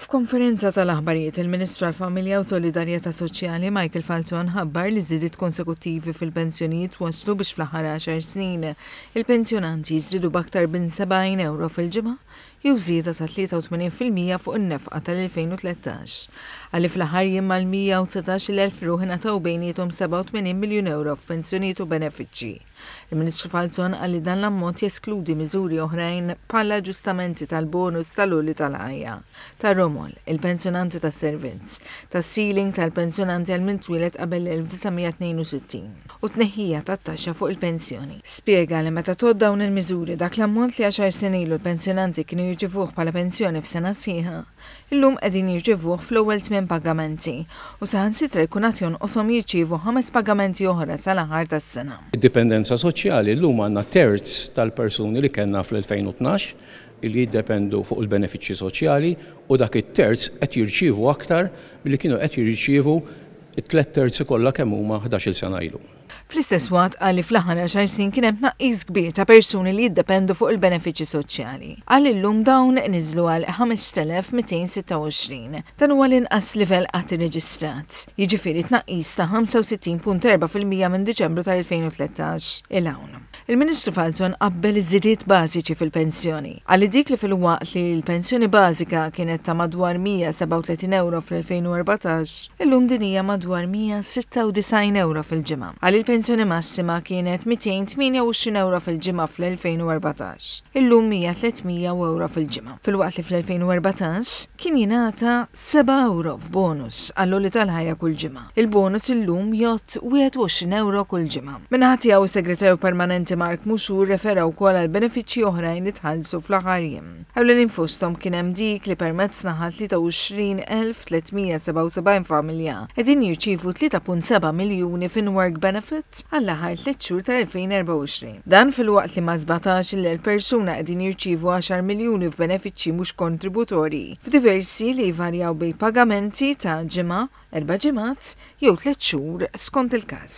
F'konferenza tal-aħbarijiet, il-Ministru għall-Familja u Solidarjetà Soċjali, Michael Falzon ħabbar li żidiet konsekuttivi fil-pensjonijiet wasslu biex fl-aħħar għaxar snin, il-pensjonanti żdiedu b'aktar bin 70 ewro fil-ġimgħa jew żieda ta' 83 fil-mija fuq in-nefqa tal-2013. Qal li fl-aħħar jiem mal-119-il elf ruħ ingħataw bejniethom 87 miljun ewro f'pensjonijiet u benefiċċji. Il-Ministru Falzon qal li dan l-ammont jeskludi miżuri oħrajn bħal aġġustamenti tal-bonus tal-għoli tal-ħajja, tar-romol, il-pensjonanti tas-servizz, tas-ceiling tal-pensjonanti għal min twieled qabel l-1962 u t-tneħħija tat-taxxa fuq il-pensjoni. Spjega li meta tgħodd dawn il-miżuri, dak l-ammont li għaxar snin ilu l-pensjonanti kienu jirċivuh bħala pensjoni f'sena sħiħa, Illum qegħdin jirċevuh fl-ewwel tmien pagamenti u saħansitra jkun għad jonqoshom jirċievu ħames pagamenti oħra sal-aħħar tas-sena. Id-dipendenza soċjali, llum għandna terz tal-persuni li kellna fl-2012 li jiddependu fuq il-benefiċċji soċjali u dak it-terz qed jirċievu aktar milli kienu qed jirċievu t-tliet terzi kollha kemm huma ħdax-il sena ilu. Fl-istess waqt qal li fl-aħħar għaxar snin kien hemm tnaqqis kbir ta' persuni li jiddependu fuq il-benefiċċji soċjali. Qal li llum dawn niżlu għal 5,226. Dan huwa l-inqas livell qatt irreġistrat, jiġifieri tnaqqis ta' 65.4 fil-mija minn Diċembru tal-2013 'il hawn. Il-Ministru Falzon qabbel iż-żidiet bażiċi fil-pensjoni. Qal li dik li filwaqt li l-pensjoni bażika kienet ta' madwar 137 ewro fl-2014, illum din hija madwar 196 ewro fil-ġimgħa. Qal li l-pensjoni massima kienet 228 ewro fil-ġimgħa fl-2014, illum hija 300 u ewro fil-ġimgħa. Filwaqt li fl-2014 kien jingħata seba' ewro f'bonus għall-għoli tal-ħajja kull ġimgħa. Il-bonus illum jgħodd 21 ewro kull ġimgħa. Min-naħa tiegħu, is-Segretarju Permanenti Mark Mouchou rrefera wkoll għal benefiċċji oħrajn li tħallsu fl-aħħar jiem. Ewlenin fosthom kien hemm dik li permezz tagħha 23,377 familja qegħdin jirċievu 3.7 miljuni f'in-work benefit għall-aħħar tliet xhur tal-2024. Dan filwaqt li ma' 17-il elf persuna qegħdin jirċievu għaxar miljuni f'benefiċċji mhux kontributorji f'diversi li jvarjaw bejn pagamenti ta' ġimgħa, erba' ġimgħat jew tliet xhur skont il-każ.